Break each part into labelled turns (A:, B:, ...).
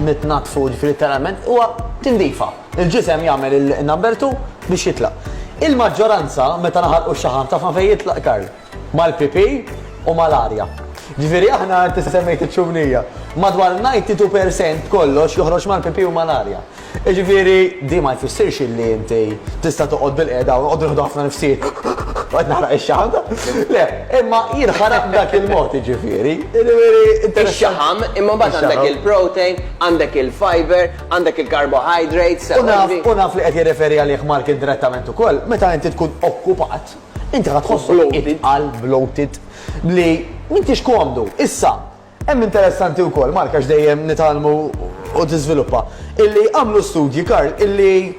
A: nitnatfu literalment huwa tindifa. Il-ġisem jagħmel il-number 2 biex jitlaq. Il-maġġoranza meta naħarqu x-xaħam ta' fejn jitlaq Karl mal-pipi u mal-arja. Ġifieri aħna inti semmejt iċ-ċumnija. Madwar 92% kollox joħroġ mal-pipi u mal-arja. Jiġifieri, din ma jfissirx illi inti tista' toqgħod bilqiegħda u noqogħdu nieħdu ħafna nifsijiet u qed naħraq ix-xaħam. Le, imma jinħaraq b'dak il-mod, jiġifieri. Jiġifieri, interessanti.
B: Ix-xaħam, imma mbagħad għandek il-protein, għandek il-fiber, għandek il-carbohydrates, sew qasdi. U naf
A: li qed jirreferi għalih Mark indirettament ukoll, meta inti tkun okkupat, inti ħa tħossok itqal, bloated, li m'intix komdu. Issa, Hemm interessanti wkoll, Mark għax dejjem nitgħallmu u tiżviluppa, illi għamlu studji, Karl, illi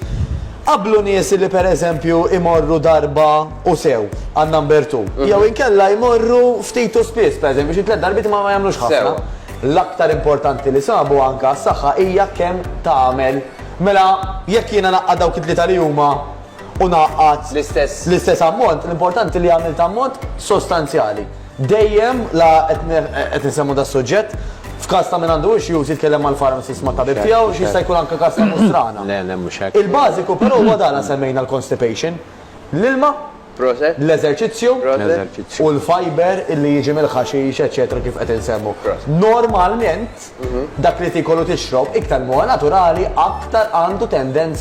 A: qabblu nies illi pereżempju imorru darba u sew għan-number two jew inkella jmorru ftit u spiss, pereżempju xi tliet darbiet imma ma jagħmlux ħafna. L-aktar importanti li sabu anke għas-saħħa hija kemm tagħmel. Mela jekk jiena ngħaqqad dawk it-tlieta li huma u ngħaqqad l-istess ammont, l-importanti li għamilt ammont sostanzjali. Dejjem la qed insemmu das-suġġett, f'każ ta' min għandu issues jitkellem mal-pharmacist mat-tabib tiegħu x'jista' jkun anke każ ta' mhux strana. Le, le mhux hekk.
C: Il-bażiku però huwa dan
A: la semmejna l-constipation, l-ilma, l-eżerċizzju u l-fiber li jiġi mill-ħaxix eċċetera kif qed insemmu. Normalment dak li tiekol u tixrob iktar li huwa naturali aktar għandu tendenza.